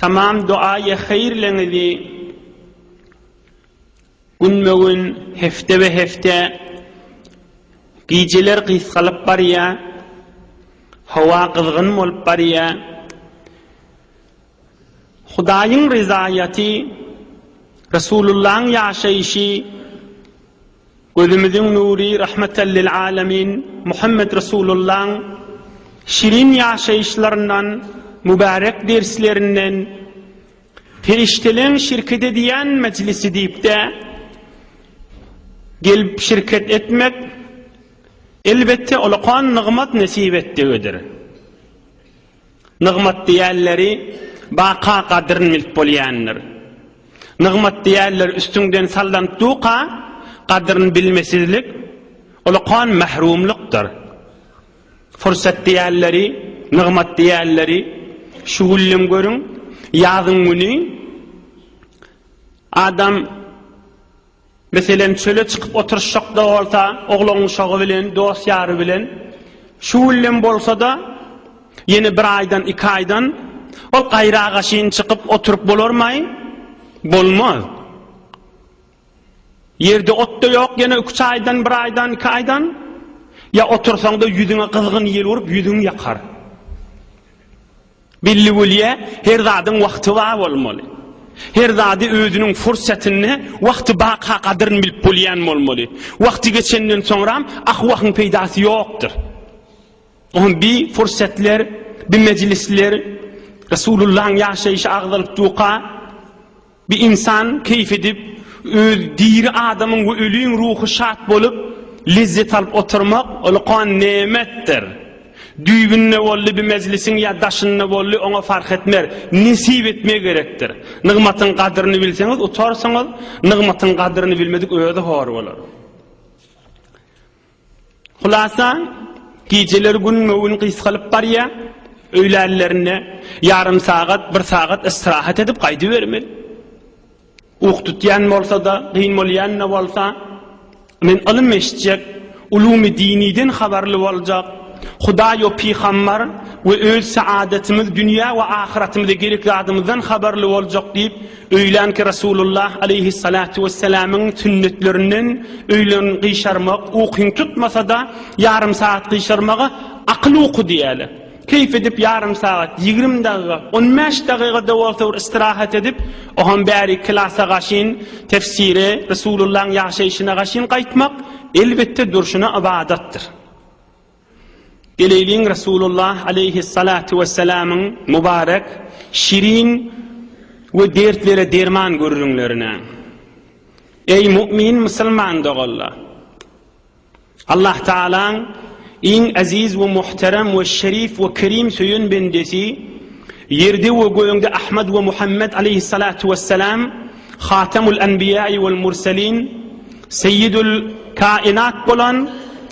Tamam doaýy haýyrlyňyzy günbe-gün, hepdebe-hepde, gijeler gysgalyp barýar, howa gyzgyn bolup barýar. Hudaýyň ryzaýaty, Resulullaň ýaşaýşy Gözümiziň nury Rahmatan lil Alamin Muhammet Resulullaň şirin ýaşaýyşlaryndan, mübärek derslerinden, Perişdeleň şirket edýän mejlisi diýip-de gelip şirket etmek, elbetde, olakan nygmat nesip etdigidir. Nygmat diýýänleri baka gadryn bilip bolýandyr. Nygmat diýýänler üstüňden sallanyp duka, gadryn bilmesizlik, ulakan mährumlykdyr. Fursat diýýänleri, nygmat diýýänleri şu güllem görüň, ýazyň güni adam Meselem, çöle çykyp oturyşyk-da bolsa, oglan-uşagy bilen, dost-ýary bilen, şu günlem bolsa-da, ýene bir aýdan, iki aýdan ol gaýragaşyn çykyp oturyp bolarmaý? Bolmaz. Ýerde ot-da ýok, ýene üç aýdan, bir aýdan, iki aýdan, ýa otursaň-da ýüzüňe gyzgyn ýel urup, ýüzüň ýakar. Billigulýa her zadyň wagty bar bolmaly. Her zady özüniň fursatynda wagty barka gadyryny bilip bolýan bolmaly. Wagty geçenden soňram ahwahyň peýdasy ýokdyr. Oňa bi fursatlar, bi mejlisler, Resulullahyň ýaşaýşy agzalyp duka. Bir ynsan keýp edip, öz diri adamyň we öliň ruhy şat bolup, lezzet alyp oturmak, ol kan nemetdir. Düýbünde boldy bir mejlisiň ýa daşynda boldy, oňa fark etmer, nesip etmegi gerekdir. Nygmatyň gadyryny bilseňiz, utarsyňyz, nygmatyň gadyryny bilmedik özi hor bolar. Hulasa, gijeler gün möwün gysgalyp barýa, öýlänlerinde ýarym sagat, bir sagat istirahat edip gaýdybermeli. Uky tutýan bolsa-da, gyn bolýan-da bolsa, men ylym eşitjek, ulumy diniden habarly boljak, Hudaý we pygambar we öz saadetimiz, dünýä we ahyratymyza gerek zadymyzdan habarly boljak diýip, Öýlänki Resulullah aleýhissalatu wessalamyň sünnetlerinden öýlen gyşarmak ukyň tutmasa-da ýarym sagat gyşarmaga akyl uky diýýärler. Keýp edip ýarym sagat, ýigrimi dagyga, on bäş dagyga-da bolsa bir istirahat edip, oham bärik klasa gaşyn, tefsire, Resulullahyň ýaşaýşyna gaşyn gaýtmak, elbetde, durşuna ybadatdyr. Geleýliň Resulullah aleýhyssalatu wessalamyň mubarek şirin we dertlere derman gürrüňlerine. Eý mu'min musulman doganlar! Allah Tagalaň iň eziz we muhterem we şerif we kerim söýen bendesi ýerde we gögde Ahmad we Muhammed aleýhyssalatu wessalam Hatamul anbiýaý wal mursalin Seýidul kainat bolan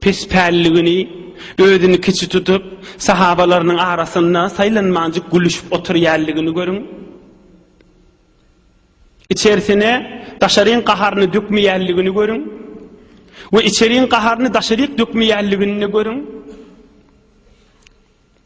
Pes pälligini, özüni kiçi tutup, sahabalarynyň arasynda saýlanmanjyk gülüşip oturýanligini görüň. Içersine daşaryň gaharyny dökmeýänligini görüň. We içeriň gaharyny daşaryk dökmeýänligini görüň.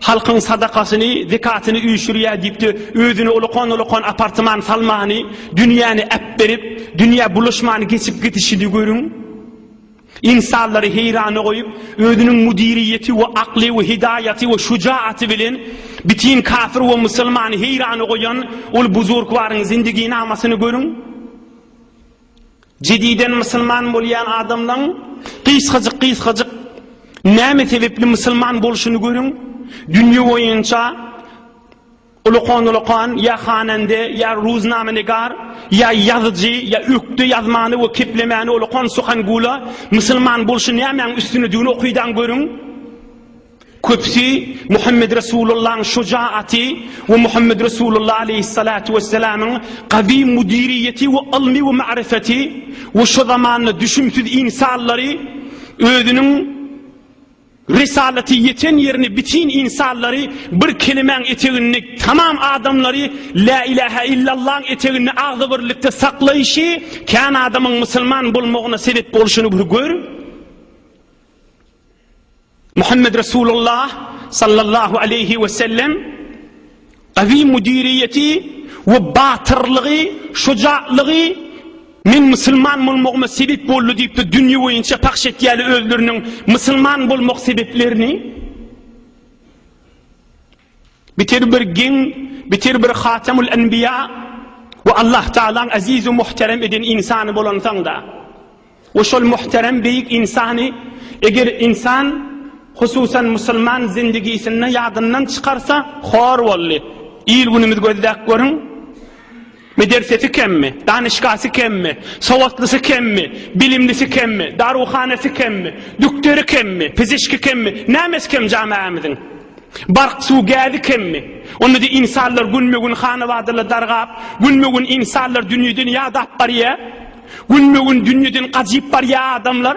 Halkyň sadakasyny, zekatyny üýşürýär diýip-de, özüne ulakan-ulakan apartman salmany, dünýäni äpberip, dünýä bulaşmany geçip gidişini görüň. Ynsanlary heýrana goýup, özüniň müdiriýeti we akly we hidaýaty we şujaýaty bilen bitin kafir we musulmany heýrana goýan ol buzurgwaryň zindigynamasyny görüň. Jediden musulman bolýan adamlaň gysgajyk gysgajyk näme sebepli musulman bolşuny görüň. Dünýe boýunça ulakan ulakan ýa hanande ýa ruznama negar ýa ýazyjy ýa ökde ýazmany we keplemani ulakan suhan gula musulman bolşy nämäň üstüne düni okydan görüň. Köpüsi Muhammed Resulullahyň şujaýaty we Muhammed Resulullah aleýhissalatu wessalamyň gawy müdiriýeti we ylmy we ma'rifeti we şo zamanda düşümsiz insallary özüniň Risalaty ýeten ýerini bitin insallary bir kelimäň eteginde tamam adamlary La ilaha illallah eteginde agzybirlikde saklaýşy kän adamyň musulman bolmagyna sebep bolşuny bir gör. Muhammed Resulullah sallallahu aleýhi we sellem gawy müdiriýeti we batyrlygy, şujaatlygy Men musulman bolmagyma sebep boldy diýip-de dünýe boýunça pahş etýärler özleriniň musulman bolmak sebeplerini. Bitir bir giň, bitir bir Hatemul Enbiýa we Allah Tagalaň eziz we muhterem eden ynsany bolansoň-da, we şol muhterem beýik ynsany eger ynsan, hususan musulman zindigisinde ýadyndan çykarsa, hor boldy. Il-günümiz gözläp görüň. Medersesi kemmi? Danyşgasy kemmi? Sowatlysy kemmi? Bilimlisi kemmi? Daruhanasy kemmi? Dükderi kemmi? Pizişki kemmi? Nämesi kem jamaämiziň? Bark, suw, gäzi kemmi? Onda-da insanlar günbe-gün hanabadala dargap, günbe-gün insanlar dünýeden ýadap barýa. Günbe-gün dünýeden gajyp barýa adamlar.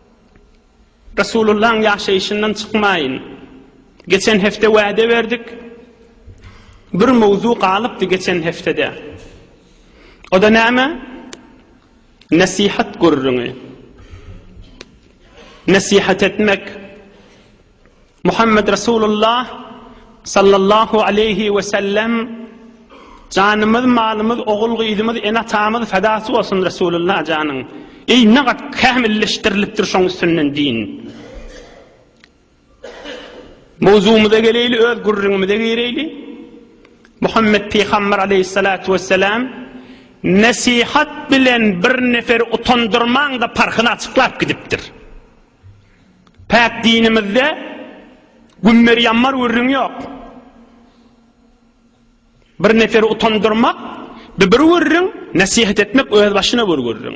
Resulullahyň ýaşaýşyndan çykmaýyn. Geçen hepde wäde berdik. Bir mowzu galypdy geçen hepdede. Oda näme? Nesihat gürrüňi. Nesihat etmek. Muhammed Resulullah sallallahu aleyhi we sellem Janymyz, malymyz, ogul gyzymyz, ene atamyz fedasy bolsun Resulullah janyň. Ey ne gat kämilleşdirilipdir şoň üstünden din. Mowzumyza geleyli öz gürrüňimize gireyli. Muhammed Peygamber aleyhissalatu vesselam nesihat bilen bir nefer utandyrmaň da parhyny açyklap gidipdir. Päk dinimizde gümmer ýammar gürrüň ýok. Bir neferi utandyrmak, bir bir gürrüň, nesihet etmek öz başyna bir gürrüň.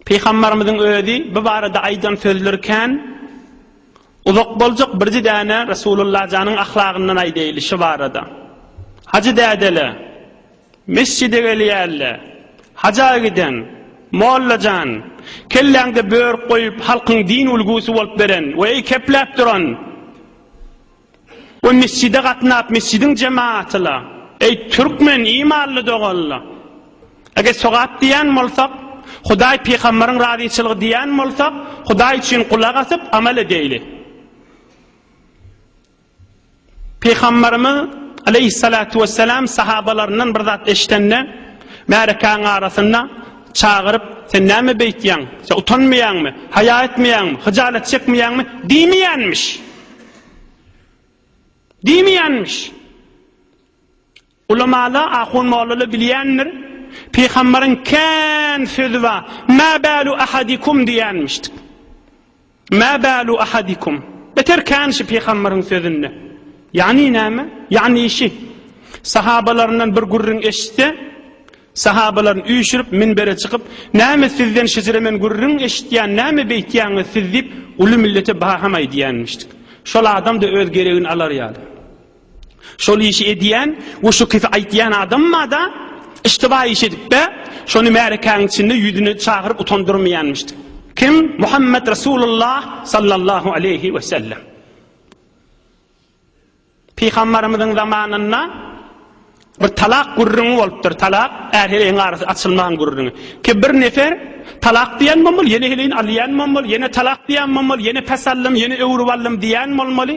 Peygamberimiziň özi bu barada aýdan sözleri kän uzak boljak birji däne Resulullah janyň ahlagyndan aýdaýly şu barada. Hajy dädele Mesjide gelýärle. Haja giden. Molla jan. Kelläňde börk goýup halkyň din ulgusy bolup beren we eýkepläp duran we mesjide gatnap mesjidiň jemaatyla. Eý türkmen imanly doganla. Eger sogap diýýän bolsak, Hudaý pygambaryň razyçylygy diýýän bolsak, Hudaý üçin gulak asyp amal edeýli. Pygamberimiz, aleýhissalatu wessalam, sahabalaryndan bir zat eşidende, märekäň arasynda çagyryp, Sen näme beýtýäň? Sen utanmaýaňmy? Haýa etmeýäňmi? Hyjalat çekmeýäňmi? diýmeýänmiş. Diýmeýänmiş. Ulamaly, ahun-mollaly bilýändir, Pygambaryň kän sözi bar, Mä bälu ahadikum diýýänmişdik. Mä bälu ahadikum. Beter kän şi Pygambaryň sözünde. Ýagny näme? Ýagny şi. Sahabalaryndan bir gürrüň eşitse, sahabalaryny üýşürip, minbere çykyp, Näme sizden şijre men gürrüň eşitýän, näme beýtýäňiz siz diýip, uly millete baham aýdýänmişdik. Şol adam-da öz geregini alar ýaly. Şol işi edýän we şu kisi aýtýan adamma-da iştiba iş edip-de, şony märekäniň içinde ýüzüne çagyryp utandyrmaýanmyşdy. Kim? Muhammet Resulullah sallallahu aleýhi we sellem. Pygambarymyzyň zamanynda bir talak gürrüňi bolupdyr. Talak är-heleýiň arasy açylmagyň gürrüňi. Ki bir nefer talak diýen bolmaly, ýene heleýini alýan bolmaly, ýene talak diýen bolmaly, ýene pes aldym, ýene öwrüp aldym diýen bolmaly.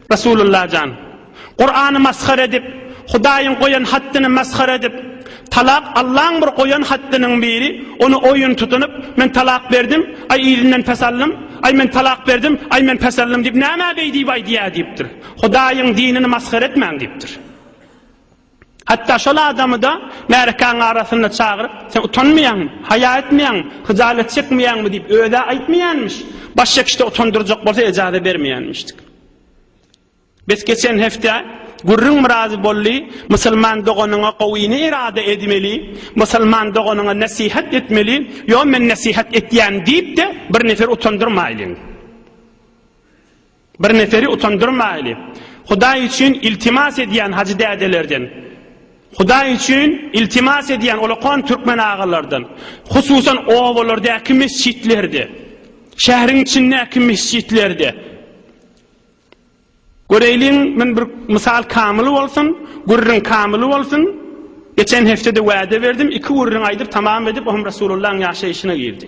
Resulullah jan! Kurany masgara edip, Hudaýyň goýan haddyny masgara edip, Talak Allaň bir goýan haddynyň biri, ony oýun tutunyp, Men talak berdim, aý yzyndan pes aldym, aý men talak berdim, aý men pes aldym diýip nämä beý diýip aýdýar diýipdir. Hudaýyň dinini masgara etmäň diýipdir. Hatda şol adamy-da märekäň arasynda çagyryp, Sen utanmaýaňmy? Haýa etmeýäňmi? Hyjalat çekmeýäňmi? diýip, öz-ä aýtmaýanmyş. Baş çekişde utandyrjak bolsa ejaza bermeýänmişdik. Bes geçen hepde gürrüň biraz boldy, Musulman doganyňa gowyny irada edmeli, musulman doganyňa nesihat etmeli, ýo men nesihat etýän diýip-de bir nefer utandyrmaýlyň. Bir neperi utandyrmaýly. Hudaý üçin iltimas edýän hajy dädelerden, Hudaý üçin iltimas edýän olakan türkmen agalardan, hususan obalardaky mesjitlerde, şähriň içindäki mesjitlerde. Göreýliň, men bir mysal kamyl bolsun, gürrüň kamyl bolsun. Geçen hepdede wada berdim, iki gürrüň aýdyp tamam edip, ohm Rasulullahyň ýaşaýşyna girdi.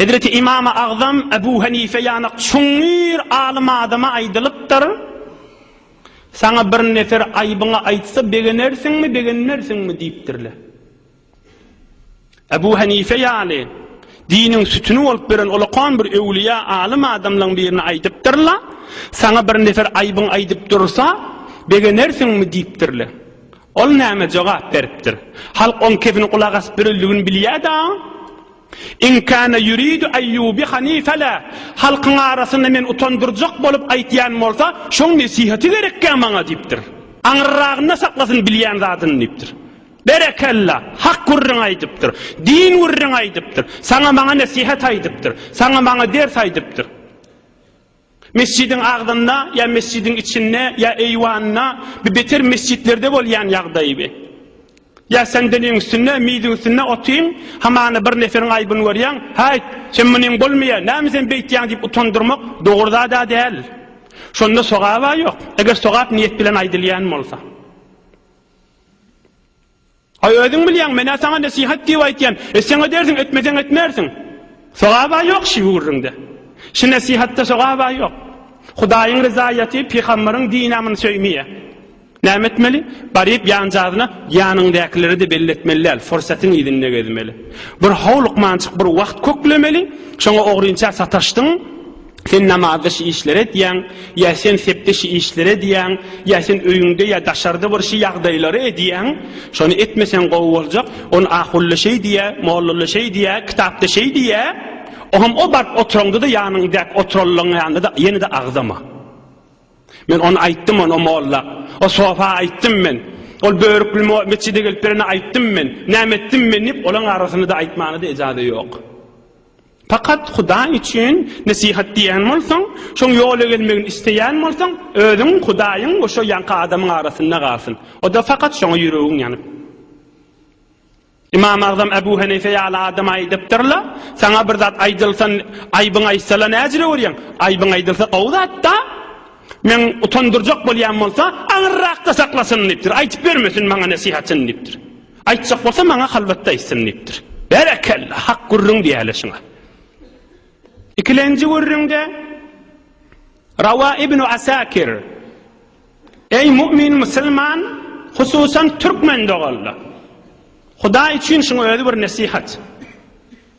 Hezreti Ymam-y Agzam Ebu Henife ýanak çuňňur alym adama aýdylypdyr, Saňa bir nefer aýbyňy aýtsa, begenersiňmi, begenmersiňmi? diýipdirler. Ebu Henife ýaly diniň sütüni bolup beren olakan bir öwlüýä alym adamlaň birine aýdypdyrlar, Saňa bir nefer aýbyňy aýdyp dursa, begenersiňmi? diýipdirler. Ol näme jogap beripdir? Halk oň kepini gulak asyp ýörendigini bilýär-dä. In kana yuridu an yubihani fela, Halkyň arasynda meni utandyrjak bolup aýtýan bolsa, şoň nesihaty gerekkä maňa diýipdir. Aňyrragynda saklasyn bilýän zadyny diýipdir. Berekella! Hak gürrüň aýdypdyr. Din gürrüň aýdypdyr. Saňa-maňa nesihat aýdypdyr. Saňa-maňa ders aýdypdyr. Mesjidiň agzynda ýa mesjidiň içinde ýa eýwanda bi beter mesjitlerde bolýan ýagdaýy bi. Ýa sendeliň üstünde, miziň üstünde otyň, hamana bir neferiň aýbyny görýäň, Häýt, sen munyň bolmaýar, näme sen beýtýäň diýip utandyrmak dogry zad-a däl. Şonda sogap-a ýok, eger sogap niýet bilen aýdylýan bolsa. Aý, özüň bilýäň, men-ä saňa nesihat diýip aýtýan. Etseň edersiň, etmeseň etmersiň. Sogab-a ýok şi gürrüňde. Şi nesihatda sogab-a ýok. Hudaýyň ryzaýaty, pygamberiň dini amyny söýmeýä. Näme etmeli? Baryp ýanjazyna ýanyňdäkilere-de belli etmeli däl, fursatyň yzynda gezmeli. Bir how lukmançyk bir wagt köklemeli, şoňa ogrynça sataşdyň, Sen namazda şi işleri edýäň, ýa sen sepde şi işleri edýäň, ýa sen öýüňde ýa daşarda bir şi ýagdaýlary edýäň, şony etmeseň gowy boljak, ony ahulla şeý diýýä, mollalla şeý diýýä, kitapda şeý diýýä, oňam o baryp oturaňda-da ýanyňdäki oturanlaň ýanynda-da ýene-de agzama. Men ony aýtdym ony o molla, o sofa aýtdym men, ol börükli metjide gelip berene aýtdym men, näme etdim men diýip, olaň arasyny-da aýtmana-da ejaza ýok. Fakat Hudaý üçin nesihat diýýän bolsaň, şoň ýola gelmegini isleýän bolsaň, özüň, Hudaýyň we şo ýanky adamyň arasynda galsyn. O-da fakat şoňa ýüregiň ýanyp. Ymam Agzam Ebu Henife ýaly adam aýdypdyr-la, Saňa bir zat aýdylsa, aýbyň aýtsala näjile görýäň? Aýbyň aýdylsa gowy zat-da. Men utandyrjak bolýan bolsa, aňyrrakda saklasyn diýipdir. Aýtyp bermesin maňa nesihatyny diýipdir. Aýtjak bolsa maňa halwatda aýtsyn diýipdir. Berekella, hak gürrüň diýäýeli şuňa. Ikilenji gürrüňde Rawa ibn Asakir Eý mu'min musulman, hususan türkmen doganlar. Hudaý üçin şuň özi bir nesihat.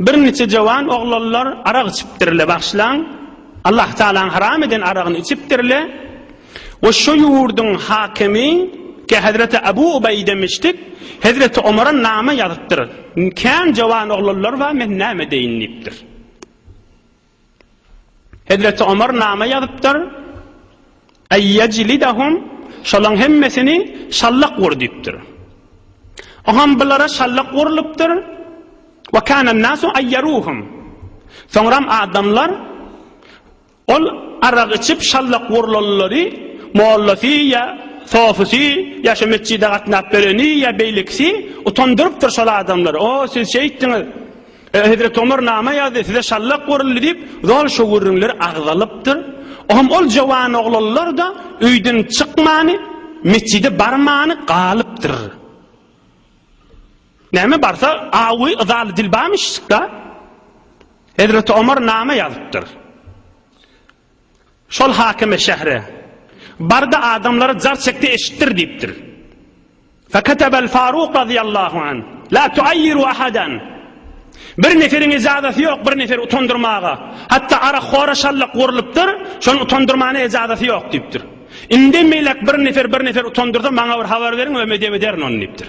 Birniçe jowan oglanlar arak içipdirle bagşlaň Allah Taalaň haram eden aragyny içipdirle we şo ýurdyň hakimi ke Hezreti Abu Ubeýde miştik Hezreti Omara name ýazypdyr kän jowan oglanlar bar men name deýin diýipdir. Hezreti Omar name ýazypdyr, Eýýejlidahum, şolaň hemmesini şallak ur diýipdir. Oham bulara şallak urlupdyr, Ve kânen nâsu eýýeruhum. Soňram adamlar ol arak içip şallak urlanlary mollasy ýa sofysy ýa şu metjide gatnap bereni ýa beýlekisi utandyrypdyr şol adamlary. O siz şeýtdiňiz. Hezreti Omar nama ýazdy, size şallak guruldy diýip, zol şo gürrüňler agzalypdyr. Ohm ol jawan oglanlar-da öýden çykmany, metjide barmany galypdyr. Näme barsa, awy yzaly dilbam işşik-da. Hezreti Omar nama ýazypdyr. Şol hakymy şähre bardy, adamlara jar çekdi, eşitdir diýipdir. Feketebe el-Faruk razyýallahu anh, La tuayyiru ahadan. Bir neferiň ejazasy ýok, bir neferi utandyrmaga. Hatda ara hora şallyk gurlupdyr, şony utandyrmana ejazasy ýok diýipdir. Indi melek bir nefer, bir nefer utandyrsa, maňa bir habar beriň, ömedem ederin ony diýipdir.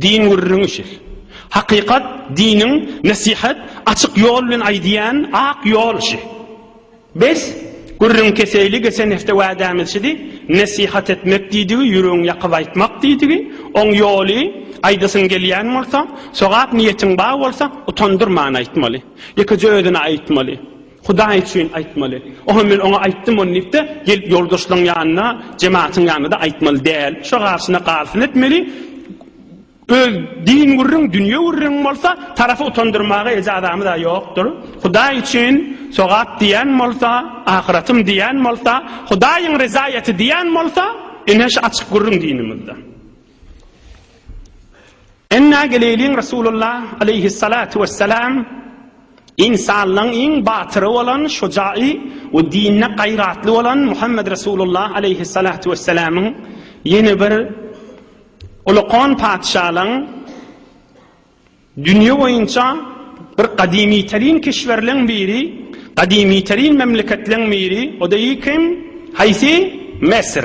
Din gürrüňi şir. Hakykat, diniň, nesihat, açyk ýol bilen aýdýan ak ýol şi. Bes, gürrüň keseyli geçen hepde wädämiz şidi, nesihat etmek diýdigi, ýüregiňi ýakyp aýtmak diýdigi, oň ýoly, aýdasyň gelýän bolsa, sogap niýetiň bar bolsa, utandyrman aýtmaly. Ýekeje özüne aýtmaly. Hudaý üçin aýtmaly. Oha men oňa aýtdym ony diýip-de, gelip ýoldaşlaryň ýanyna, jematyň ýanyna-da aýtmaly däl. Şo garşyna garsyn etmeli. Öz din gürrüň, dünýe gürrüň bolsa, tarapy utandyrmaga ejazamyz-a ýokdur. Hudaý üçin sogap diýen bolsa, ahyratym diýen bolsa, Hudaýyň rezaýaty diýen bolsa, ine şu açyk gürrüň dinimizde. Emma geleýliň Resulullah aleýhissalatu wessalam ynsanlaň iň batyry bolan şujaýy we dinde gaýratly bolan Muhammet Resulullah aleýhissalatu wessalamyň ýene bir Ulukhan patyşalaň dünýe boýunça bir gadymyterin kişwerleň biri, gadymyterin memleketleň biri, o-da kim? Haýsy? Mesir.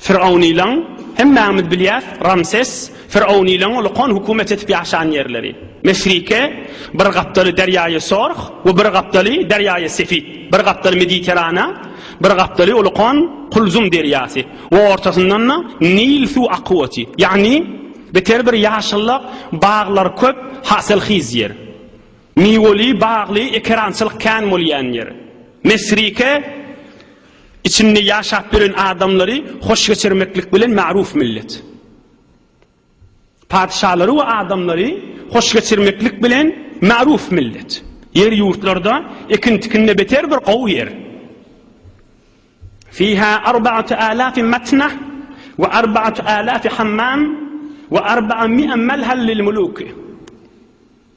Firavnylaň, hemmämiz bilýäs, Ramses, firavnylaň ulkan hökümet edip ýaşan ýerleri. Mesrike, bir gapdaly derýaýy Sorh we bir gapdaly derýaýy Sefit, bir gapdaly Mediterana, bir gapdaly ulkan Kulzum derýasy we ortasyndan-da Nil suw akywty, ýagny beter bir ýaşyllyk, baglar köp, hasyl hyz ýer. Miweli, bagly, ekerançylyk kän bolýan ýer. Mesrike içinde ýaşap ýören adamlary hoş geçirmeklik bilen magruw millet. Patyşalary we adamlary hoş geçirmeklik bilen magruw millet. Ýer ýurtlarda ekin-tikinde beter bir gowy ýer. Fiha arba'atu alaf matna we arba'atu alaf hammam we arba'a mi'a malhal lil muluk.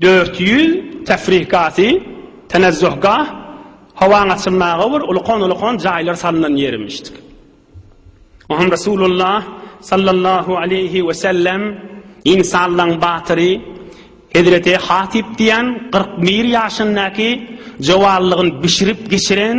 Dört ýüz Tefrihgahsy, Tenezzuhgah, Howaň açylmaga bir ulkan-ulkan jaýlar salnan ýerimişdik. Oňam Resulullah sallallahu aleýhi wesellem ynsanlaň batyry hezreti Hatyp diýen kyrk bir ýaşyndaky jowallygyny bişirip geçiren,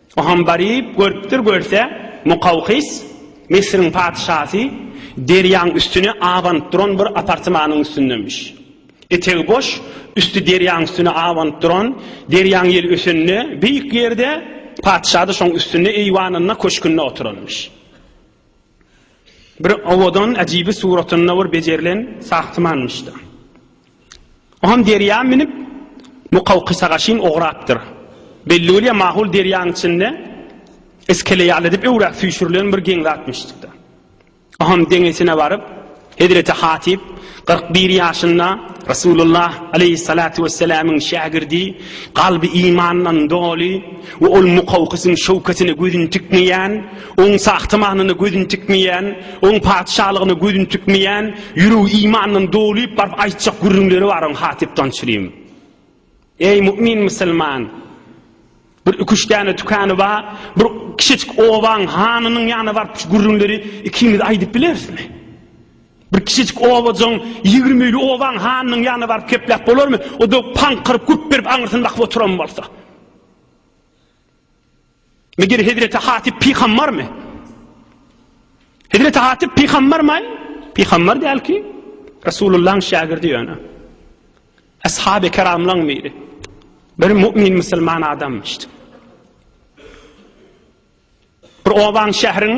O hem baryp görüpdir, görse, Mukawkys, Misriň patyşasy, derýaň üstüne abanyp duran bir apartmanyň üstündemiş. Etegi boş, üsti derýaň üstüne abanyp duran, derýaň ýel ösende, beýik ýerde, patyşa-da şoň üstünde eýwanynda, köşkünde oturanmyş. Bir owadan, äjibi suratynda bir bejerilen sahtymanmyş-da. Oňam derýa münüp, Mukawkysagaşyn ograpdyr. Belli bolýar, mahul derýaň içinde iskele ýaly edip öwräp süýşürilen bir geň zatmyşdyk-da. Oňam deňesine baryp, hezreti Hatyp kyrk bir ýaşynda Resulullah aleýhissalatu wessalamyň şägirdi, kalby imandan doly we ol Mukawkysyň şöwkesine gözüni tikmeýän, Oň sagty manyna gözüni tikmeýän, Oň patyşalygyna gözüni tikmeýän, ýüregi imandan dolup baryp aýtjak gürrüňleri bar oň Hatyp Tançyryň. Eý mu'min musulman! Bir iki-üç däne tükany bar, bir kiçijik obaň hanynyň ýanyna baryp şu gürrüňleri ikimiz aýdyp bilerismi? Bir kiçijik obajyň ýigrimili obaň hanynyň ýanyna baryp kepläp bolarmy? O da paňkyryp gürp berip aňyrsyny bakyp oturan bolsa. Meger Hezreti Hatip pygambarmy? Hezreti Hatip pygambarmy? Pygambar däl ki, Resulullah'yň şägirdi ýöne. Ashab-ı kiramlaň biri. Bir mu'min musulman adam işte. Bir oban şähriň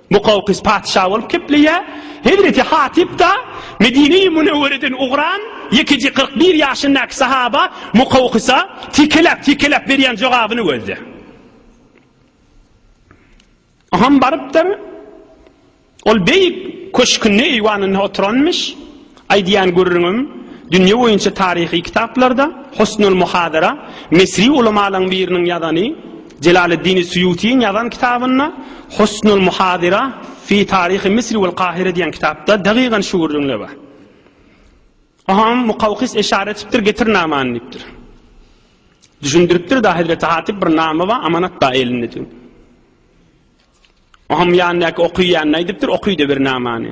Mukawkys patyşa bolup kepleýär. Hezreti Hatyp-da Medine-i Münewwereden ugran ýekeje kyrk bir ýaşyndaky sahaba Mukawkysa tikelep-tikelep berýän jogabyny gözle. Aham barypdyr. Ol beýik köşkünde eýwanynda oturanmyş. Aýdýan gürrüňim dünýe boýunça taryhy kitaplarda Husnul Muhadara, Misri ulamalaryň biriniň ýazany, Jelaleddini Suýutyň ýazan kitabynda Husnul Muhadira fi taryhy Misri wal Kahire diýen kitapda dagygan şu gürrüňde bar. Aham Mukawkys eşara etipdir, getir namany diýipdir. Düşündiripdir da Hezreti Hatyp bir nama bar, amanat bar elinde diýip. Aham ýandaky okyýanyna aýdypdyr, okyýda bir namany.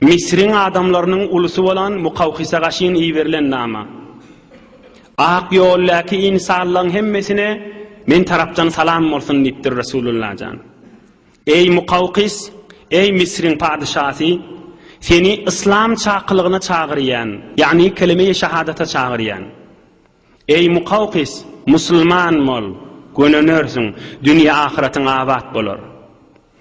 Misriň adamlarynyň ulusy bolan Mukawkysa gaşyn iberilen nama. Ak ýoldäki ynsanlaň hemmesine men tarapdan salam bolsun diýipdir Resulullah jan. Eý Mukawkys, eý Misriň padyşasy, seni yslam çakylygyna çagyrýan, ýagny kelime-i şahadata çagyrýan. Eý, Mukawkys, musulman bol, gönenersiň, dünýe-ahyretyň abat bolar.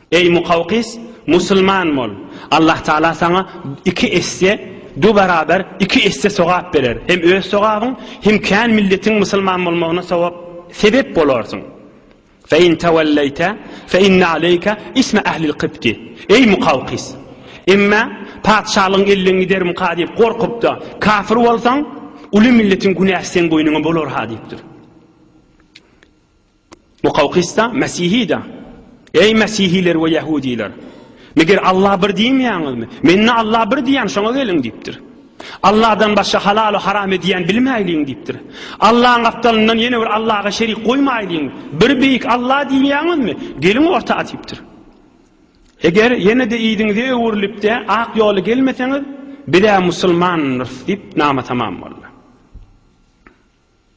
Eý, Mukawkys, musulman bol, Allah Tagala saňa iki esse, du barabar iki esse sogap berer, hem öz sogabyň, hem kän milletiň musulman bolmagyna sogap, sebep bolarsyň. Fe in tawalleyte fe inne aleyke isme ehlil kybti, Eý Mukawkys! Emma patyşalygyň elinden giderimka diýip gorkup-da, kafir bolsaň, uly milletiň günäsi seň boýnuňa bolar-ha diýipdir. Mukawkys-da, Mesihi-de, Eý mesihiler we ýahudylar! Meger Alla bir diýmeýäňizmi? Men-de Alla bir diýýän, şoňa geliň diýipdir. Allahdan başga halaly haram edýän bilmäýliň diýipdir. Allaň gapdalyndan ýene bir Allaha şerik goýmaýlyň. Bir beýik Allah diýýäňizmi? Geliň orta atypdyr. Eger ýene-de yzyňyza öwrülip-de ak ýola gelmeseňiz, biz-ä musulmandyrys diýip nama tamam boldy.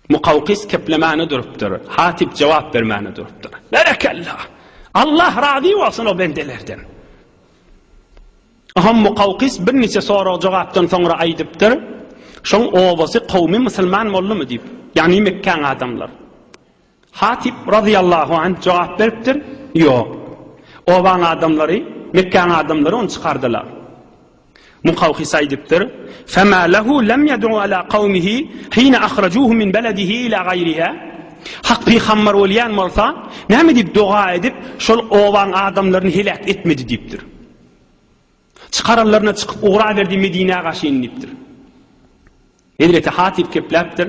Mukawkis keplemäne durupdyr, Hatyp jogap bermäne durupdyr. Berekella! Allah razy bolsun o bendelerden! Aham Mukawkis birniçe sorag-jogapdan soňra aýdypdyr, Şoň obasy kowmy musulman boldumy? diýip, ýagny Mekgäň adamlary. Hatyp, razyýallahu anh, jogap beripdir, Ýok. Obaň adamlary, Mekgäň adamlary ony çykardylar. Mukawhys aýdypdyr, Femâ lehu lem yed'u alâ kawmihi hine ahracuhu min beledihi ilâ gaýrihâ? Hak pygamber bolýan bolsa, näme diýip doga edip, şol obaň adamlaryny heläk etmedi diýipdir. Çykaranlaryna çykyp ugraberdi Medinä gaşyn diýipdir. Hezreti Hatyp gepläpdir.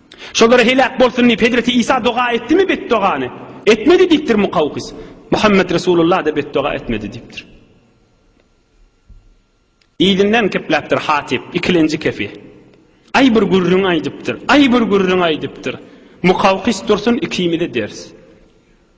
Şolara heläk bolsun diýip Hezreti Isa doga etdimi betdogany? Etmedi diýipdir Mukawkys. Muhammet Resulullah-da betdoga etmedi diýipdir. Yzyndan kepläpdir Hatip, ikilenji kefi. Aý bir gürrüň aýdypdyr, aý bir gürrüň aýdypdyr. Mukawkys dursun ikimize ders.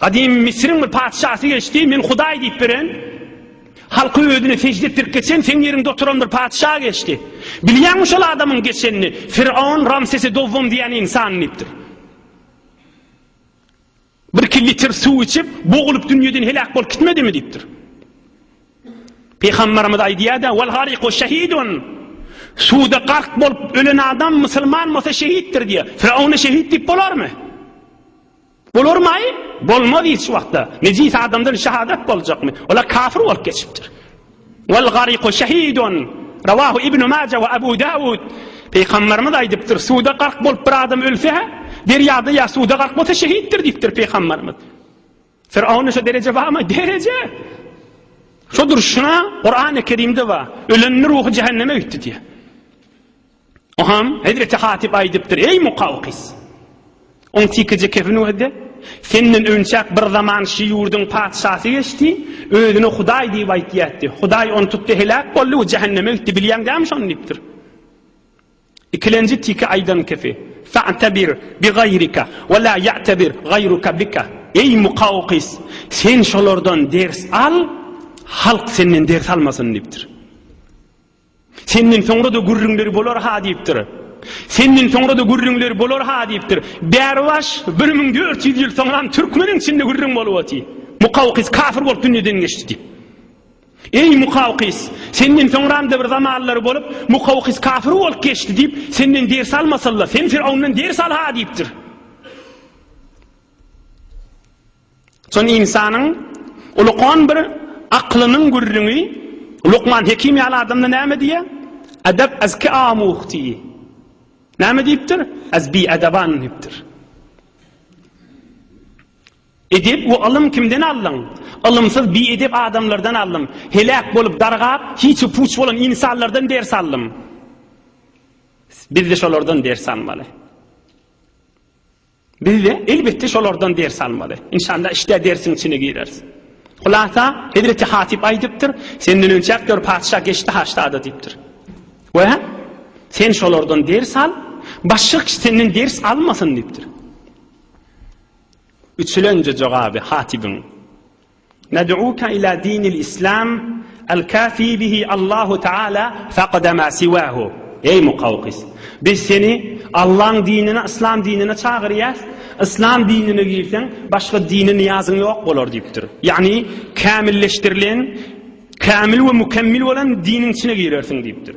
Gadymy Misriň bir patyşasy geçdi, men Hudaý diýip beren, halky özüne sežde etdirip geçen seň ýeriňde oturan bir patyşa geçdi. Bilýäňmi şol adamyň geçenini? Firon Ramsesi dowwam diýen insan diýipdir. Bir iki litr suw içip, bogulup dünýeden heläk bolup gitmedimi diýipdir. Pygamberimiz aýdýar-da, "Wal gariqu şehidun." Suwda gark bolup ölen adam musulman bolsa şehitdir diýýär. Firawna şehit diýip bolarmy? Bular maý bolmaz hiç wagtda. Nejis adamdan şahadat boljakmy? Olar kafir bolup geçipdir. Wal gariku şehidun. Rawahu Ibnu Maja we Abu Dawud. Peýgamberimiz aýdypdyr, suwda gark bolup bir adam ölse, derýada ýa suwda gark bolsa şehitdir diýipdir peýgamberimiz. Firawna şu dereje barmy? Dereje. Şu durşuna Kur'an-ı Kerimde var. Ölenin ruhu cehenneme gitti diye. Oňam hezreti Hatyp aýdypdyr, Eý Mukawkys! Oň tikiji kefin wehde, senden önçäk bir zaman şi ýurduň patyşasy geçdi, özüne Hudaý diýip aýtýatdy. Hudaý ony tutdy, heläk boldy we jähenneme gitdi, bilýäň dämi şony diýipdir. Ikilenji tiki aýdan kefi, Fa'tabir bi gaýrika we la ya'tabir gaýruka bika, Eý Mukawkys! Sen şolardan ders al, halk senden ders almasyn diýipdir. Senden soňra-da gürrüňleri bolar-ha diýipdir. Senden soňra-da gürrüňleri bolar-ha diýipdir. Bäribaş, bir müň dört ýüz ýyl soňram türkmeniň içinde gürrüň bolup otyr. Mukawkys kafir bolup dünýeden geçdi diýip. Eý, Mukawkys, senden soňram-da bir zamanlar bolup, Mukawkys kafir bolup geçdi diýip, senden ders almasal-la, sen Firawundan ders al-ha diýipdir. Soň ynsanyň ulkan bir aklynyň gürrüňi Lukman Hekim ýaly adamda näme diýýär? Edep az ki amuhti. Näme diýipdir? Az bi edeban diýipdir. Edep we alym kimden aldyň? Alymsyz bi edep adamlardan aldym. Heläk bolup dargap, hiç puç bolan insanlardan ders aldym. Biz de şolardan ders almaly. Bizde elbetde şolardan ders almaly. Inşallah işte dersiň içine gireris. Hulasa Hezreti Hatip aýdypdyr, senden önçäk gör patyşa geçdi haştada diýipdir. Ve sen şolardan ders al, başga kişi senden ders almasyn diýipdir. Üçülenje jogaby Hatibiň Nad'uka ila dinil islam al kafi bihi Allahu taala faqada ma siwahu. Eý Mukawqis! Biz seni Allaň dinine, yslam dinine çagyrýas. Yslam dinine girseň, başga dine niýazyň ýok bolar diýipdir. Ýagny, kämilleşdirilen, kämil we mükemmil bolan diniň içine girersiň diýipdir.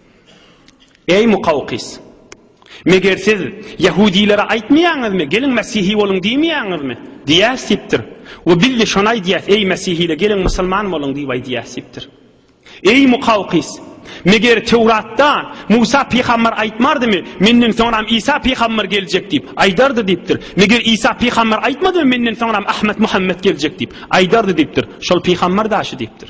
Eý, Mukawkys! Meger siz ýehudilere aýtmaýaňyzmy, Geliň, Mesihi boluň diýmeýäňizmi? diýýäs diýipdir. We biz-de şony aýdýas, Eý, Mesihile, geliň, musulman boluň diýip aýdýas diýipdir. Eý, Mukawkys! Meger Töwratda Musa pygamber aýtmardymy, Menden soňram Isa pygamber geljek diýip? Aýdardy diýipdir. Meger Isa pygamber aýtmadymy, Menden soňram Ahmet Muhammet geljek diýip? Aýdardy diýipdir. Şol pygamber daşy diýipdir.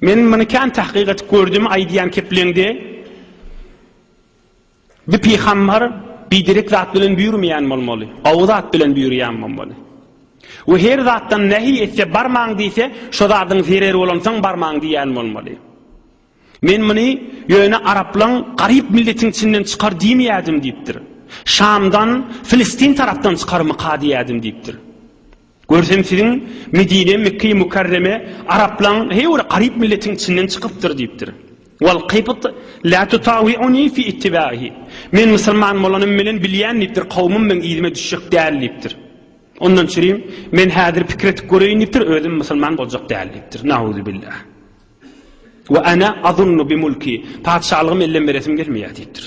Men muny kän tahkyk edip gördüm aýdýan kepliňde bir pygambar biderek zat bilen büýürmeýän bolmaly. Gowy zat bilen büýürýän bolmaly. We her zatdan nähi etse barmaň diýse, şo zadyň zereri bolansoň barmaň diýýän bolmaly. Men muny ýöne araplaň garyp milletiň içinden çykar diýmeýädim diýipdir. Şamdan, Filistin tarapdan çykarmyka diýýädim diýipdir. Görsem siziň Medine, Mekkeýi Mukarreme araplaň heý bir garyp milletiň içinden çykypdyr diýipdir. Wal qybt la tutawi'uni fi ittiba'ihi. Men musulman bolanym bilen bilýän diýipdir, kowmym meň yzyma düşjek däl diýipdir. Ondan çürim men häzir pikir etip göreýin diýipdir, özüm musulman boljak däl diýipdir. Nauzubillah. Wa ana azunnu bi mulki. Patyşalygym ellem beresim gelmeýär diýipdir.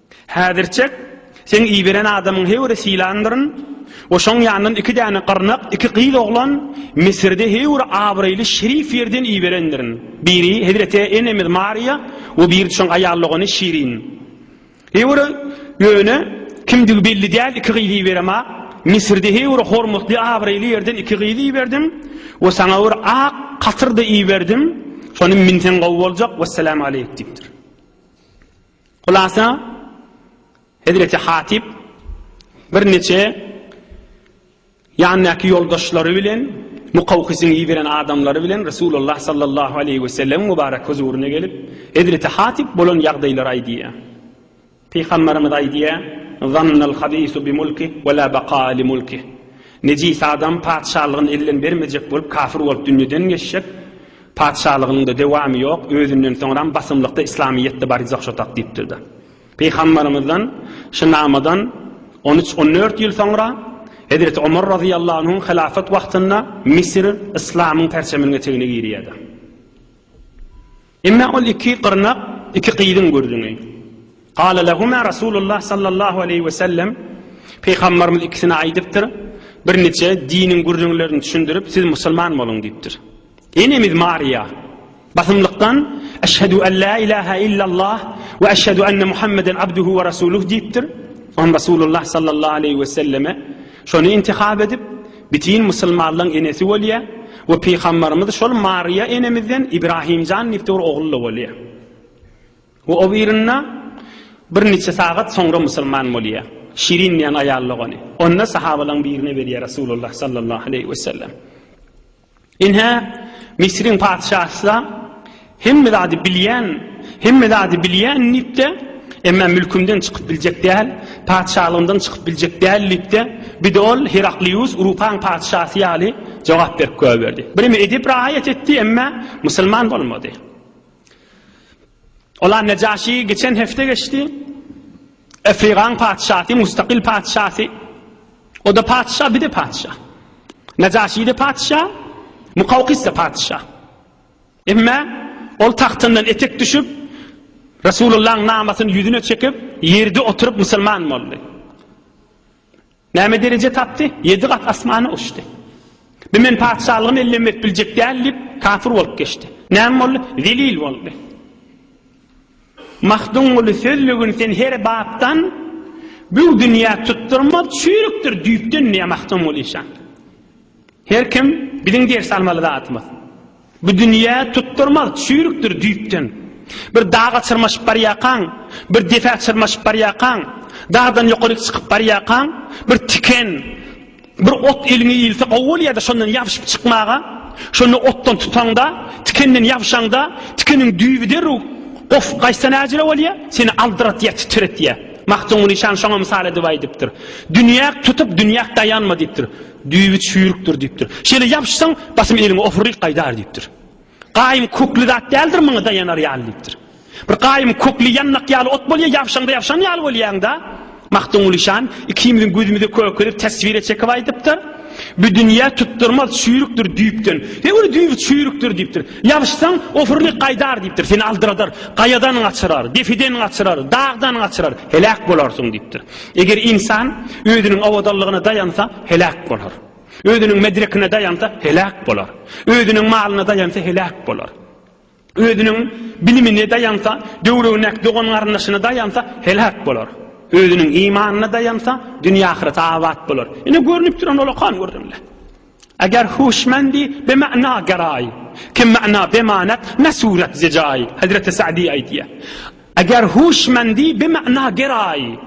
Häzirçek, seň iberen adamyň heýwiri sylandyryn we şoň ýanyndan iki däne gyrnak, iki gyz oglan, Misirde heýwir abraýly şerif ýerden iberendirin. Biri hezreti enemiz Mariýa we biri şoň aýal dogany Şirin. Heýwir ýöne kimdigi belli däl iki gyzy iberem-ä. Misirde heýwir hormatly abraýly ýerden iki gyz iberdim we saňa bir ak katyr-da iberdim. Şony minseň gowy boljak. Wessalam aleýk diýipdir. Hulasa, hezreti Hatyp birniçe ýanyndaky ýoldaşlary bilen, Mukawkysyň iberen adamlary bilen Resulullah sallallahu aleýhi wesellemiň mübarek huzuryna gelip, hezreti Hatyp bolan ýagdaýlary aýdýar. Pygamberimiz aýdýar, Zannal habisu bi mulki we la bakaa li mulkih. Nejis adam patyşalygyny elden bermejek bolup, kafir bolup dünýeden geçjek. Patyşalygynyň-da dewamy ýok, özünden soňram basymlykda islamyýet-de barjak şo tak diýipdir-de. Pygambarymyzdan şu namadan on üç, on dört ýyl soňra Hezreti Omar razyýallahu anhuň hylafat wagtynda Misir yslamyň perçeminiň etegine girýär-de. Emma ol iki gyrnak, iki gyzyň gürrüňi. Gale lehuma Rasulullah sallallahu aleýhi we sellem, Pygambarymyz ikisine aýdypdyr, Birniçe diniň gürrüňlerini düşündirip, siz musulman boluň diýipdir. Enemiz Mariýa basymlykdan Eşhedü en la ilahe illallah we eşhedü enne Muhammeden abduhu we rasuluh diýipdir. On Rasulullah sallallahu aleýhi we selleme şony intihap edip, bitin musulmanlaň enesi bolýa we pygambarymyz şol Mariýa enemizden Ibrahimjan diýip dogry ogul-da bolýa. We o birinde bir niçe sagat soňra musulman bolýa. Şirin diýen aýal-da ony. Onda sahabalaň birine berýa Rasulullah sallallahu aleýhi we sellem. Ine, Misriň patyşasy-da, Hemme zady bilýän, hemme zady bilýän diýip-de, emma mülkümden çykyp biljek däl, patyşalygymdan çykyp biljek däl diýip-de, bir-de ol Heraklius Urupaň patyşasy ýaly jogap berip goýberdi. Birneme edep raýat etdi, emma musulman bolmady. Ola Nejaşy geçen hepde geçdi. Efrigaň patyşasy, mustaqil patyşasy. O-da patyşa, bir-de patyşa. Najaşi-de patyşa, Mukawkis-de patyşa. Emma ol tagtyndan etek düşüp, Resulullahyň namasyny ýüzüne çekip, ýerde oturyp musulman boldy. Näme dereje tapdy? Ýedi gat asmana uçdy. Bi men patyşalygymy ellemek biljek däl diýip, kafir bolup geçdi. Näme boldy? Zelil boldy. Magtymguly sözlügini sen her bapdan Bü dünýä tutdurma çüýrükdir düýpden diýýär Magtymguly şa. Her kim biziň ders almaly zatymyz. Bu dünýä tutdurmaz, çüýrükdir düýpden. Bir daga çyrmaşyp barýarkaň, bir depä çyrmaşyp barýarkaň, dagdan ýokaryk çykyp barýarkaň, bir tiken, bir ot eliňe ilse gowy bolýar-da şondan ýabşyp çykmaga. Şonda otdan tutaňda, tikenden ýabşaňda, tikeniň düýbi derrew gofup gaýtsa näjele bolýar? Seni aldyratýar, titretýär. Magtymguly şan şoňa mysal edip aýdypdyr. Dünýäk tutup, dünýäk daýanma diýipdir. Düýbi çüýrükdir diýipdir. Şeýle ýapyşsaň, basym eliňe opuryk gaýdar diýipdir. Gaýym kökli zat däldir, muňa daýanar ýaly diýipdir. Bir gaýym kökli ýannak ýaly ot bolýar, ýapyşaňda ýapyşan ýaly bolýaň-da. Magtymguly şan ikimiziň gözümize kökelip teswire çekip aýdypdyr. Bu dünýä tutdurmaz çüýrükdir düýpden. He ol düýbi çüýrükdir diýipdir. Ýapyşsaň, opuryk gaýdar diýipdir. Seni aldyradar, gaýadan gaçyrar, depeden gaçyrar, dagdan gaçyrar, heläk bolarsyň diýipdir. Eger ynsan özüniň owadanlygyna daýansa, heläk bolar. Özüniň medrekine daýansa, heläk bolar. Özüniň malyna daýansa, heläk bolar. Özüniň bilimine daýansa, döwregindäki dogan-garyndaşyna daýansa, heläk bolar. Özüniň imanyna daýansa, dünýe-ahyret abat bolar. Ine, görnüp duran olakan gürrüňler. Eger huşmendi be mana geraý, Kim mana be manat, ne surat ze jaý. Hezreti Sa'di aýtýa. Eger huşmendi be mana geraý,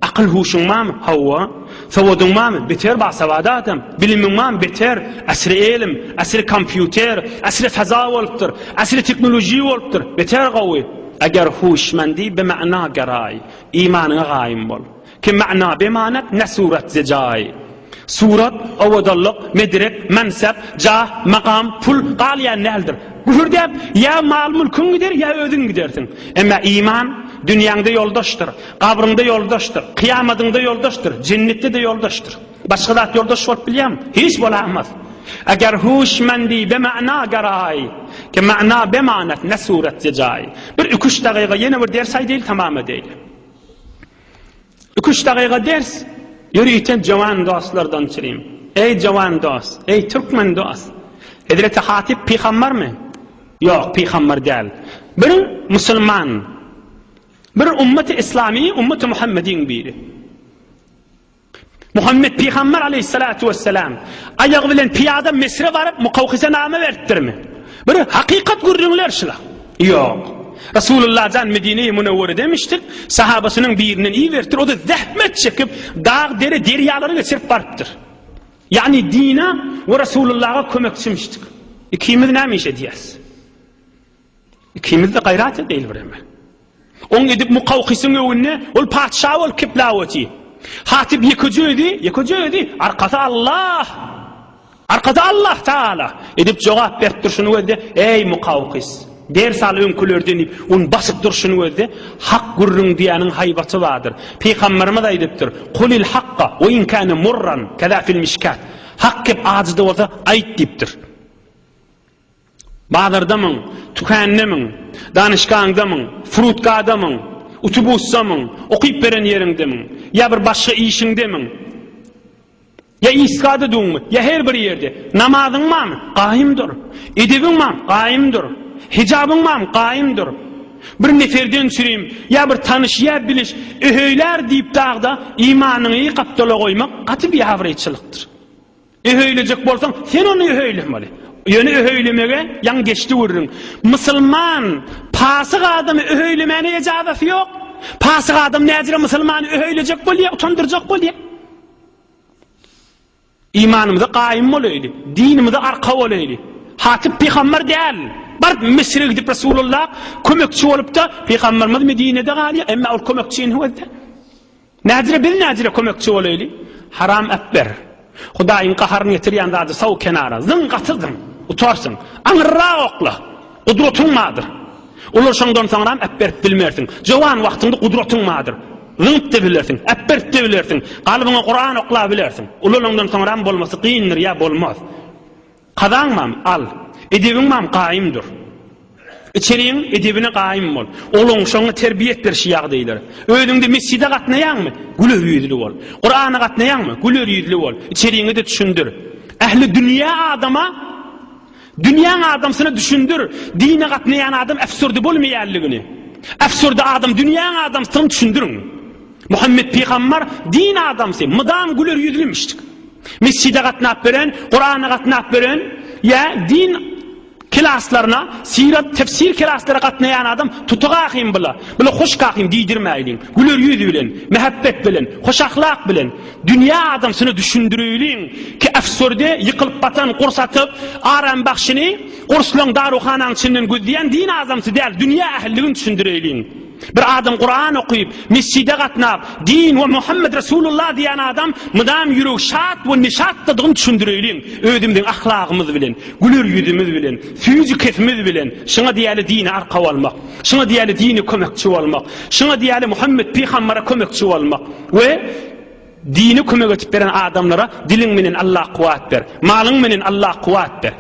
Akyl huşuň bamy? Hawa. Sowadyň bamy? Beter ba sawady adam. Bilimiň bamy? Beter. Asri elim, asri kompýuter, asri faza bolupdyr, asri teknoloji bolupdyr. Beter gowy. Eger huşmendi be mana geraý, Imanyňa gaýym bol. Ki mana bemanet ne surat ze jay. Surat, owadanlyk, medrek, mansap, jah, makam, pul galýan däldir. Küfür däp, ýa mal-mülküň gider, ýa özüň gidersiň. Emma iman, dünýäňde ýoldaşdyr, gabryňda ýoldaşdyr, kyýamadyňda ýoldaşdyr, jennetde-de ýoldaşdyr. Başga zat ýoldaş bolup bilýärmi? Hiç bolamaz. Eger huşmendi bemana garaý. Ki mana bemanet ne surat ze jay. Bir iki-üç dagyga ýene bir ders aýdaýyl tamam edeýli. Iki-üç dagyga ders, ýörite jöwen dostlardan çyryň. Eý, jöwen dost! Eý, türkmen dost! Hezreti Hatyp pygambarmy? Ýok, pygambar däl. Bir musulman. Bir ummaty-yslamy, ummaty Muhammediň biri. Muhammet pygamber aleýhissalatu wesselam aýagy bilen pyýada Misre baryp mukawhise name beripdirmi? Bir hakykat gürrüňler şula. Ýok. Resulullah jan Medine-i Munawwara demişdik, sahabasynyň birinden iberipdir, o-da zähmet çekip, dag, dere, derýalary geçirip barypdyr. Ýagny dine we Resulullaha kömekçimişdik. Ikimiz näme iş edýäris? Ikimiz-de gaýrat edeýli bireme. Oň edip Mukawkysyň öwünde ol patyşa bolup kiplawoty. Hatyp ýekeje özi, ýekeje özi, arkasy Allah. Arkasy Allah Taala. Edip jogap berip durşuny gözde, eý Mukaukys. Ders al öňkülerden diýip, on basyp durşuny gözde, hak gürrüň diýäniň haýbaty bardyr. Pygamberimiz aýdypdyr, Kulil hakka we in kana murran, kaza fil mishkat. Hak gep ajyda bolsa, aýt diýipdir. Bazarda myň, tükände myň, danyşgaňda myň, frutkada myň, utubusda myň, okyp beren ýeriňde myň, ýa bir başga işiňde myň, ýa isgada düňmi, ýa her bir ýerde, namazyň barmy, gaýym dur, edebiň barmy, gaýym dur, hijabyň barmy, gaýym dur. Bir neferden sürim, ýa bir tanyş, ýa biliş, öheýlär diýip dagda imanyňy gapdala goýmak gaty biabraýçylykdyr. Öhöýlejek bolsaň, sen ony öhöýlemeli. Ýöne öhöýlemege ýaňy geçdi gürrüň. Musulman pasyk adamy öhöýlemäne ejazasy ýok. Pasyk adam näzire musulmany öhöýlejek bolýar, utandyrjak bolýar. Imanymyza gaýym bolaýly, dinimize arka bolaýly. Hatyp pygamber däl. Baryp Misre gidip Resulullah kömekçi bolup-da, pygamberimiz Medinede galýar, emma ol kömekçi indi özde. Näzire biz näzire kömekçi bolaýly. Haram äpber. Hudaýyň gaharyny getirýän zady sal kenara. Zyň gaty zyň. Utarsyň. Aňyrrak okla. Gudratyň bardyr. Ulaşaňdan soňram äpberip bilmersiň. Jowan wagtyňda gudratyň bardyr. Zyňyp-da bilersiň. Äpberip-de bilersiň. Galbyňa Kuran oklap bilersiň. Ulalaňdan soňram bolmasy kyndyr ýa bolmaz. Kazaňmam, al. Edebiňmam gaýym dur. Içeriň edebine gaýym bol. Ogluň şoňa terbiýe et berşi ýagdaýlar. Özüňde mesjide gatnaýaňmy? Güler ýüzli bol. Kurana gatnaýaňmy? Güler ýüzli bol. Içeriňe-de düşündir. Ähli dünýä adama, dünýäň adamsyna düşündir, dine gatnaýan adam äfsürdi bolmaýanlygyny. Äfsürdi adam dünýäň adamsyny düşündiriň. Muhammet pygambar din adamsy, mydam güler ýüzlimişdik. Mesjide gatnap beren, Kurana gatnap beren, ýa din klaslaryna, syrat, tefsir klaslaryna gatnaýan adam tuty kakym bula. Bula hoş kakym diýdirmäýliň. Güler ýüz bilen, mähebbet bilen, hoş ahlak bilen dünýä adamsyna düşündirýliň ki efsurde ýykylyp batan gurs atyp, aram bagşyny gurslaň daruhanaň içinden gözleýän din adamsy däl, dünýä ähliligini düşündirýliň. Bir adam Kuran okyp, mesjide gatnap, din we Muhammed Resulullah diýen adam mydam ýüregi şat we neşatdadygyny düşündireýliň. Özümiziň ahlagymyz bilen, güler ýüzümiz bilen, süýji kesimiz bilen şuňa diýeli dine arkaw almak, şuňa diýeli dine kömekçi bolmak, şuňa diýeli Muhammed pygambere kömekçi bolmak we dine kömek edip beren adamlara diliň menen Allah kuwat ber, malyň menen Allah kuwat ber.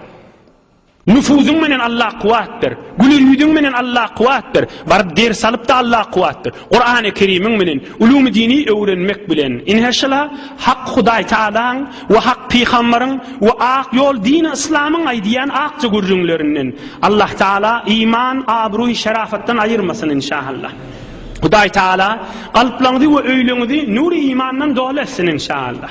Nüfuzyň menen Alla kuwat ber. Güler ýüzüň menen Alla kuwat ber. Baryp ders alyp-da Alla kuwat ber. Kurany Kerimiň menen ulumy dini öwrenmek bilen. Inheşala Hak Hudaý Tagalaň we Hak Pygambaryň we Ak ýol dini Yslamyň aýdýan akja gürrüňlerinden. Allah Tagala iman, abruý, şerafatdan aýyrmasyn inşaAllah. Hudaý Tagala kalplaňyzy we öýleňizi nury imandan doly etsin inşaAllah.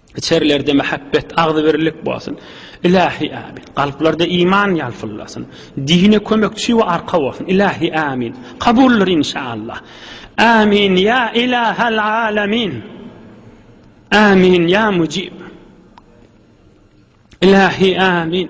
Içerlerde mähebbet, agzybirlik bolsun. Ilahi amin. Kalplarda iman ýalpyllasyn. Dine kömekçi we arka bolsun. Ilahi amin. Kabuldyr inşallah. Amin ya ilahal alamin. Amin ya mucib. Ilahi amin.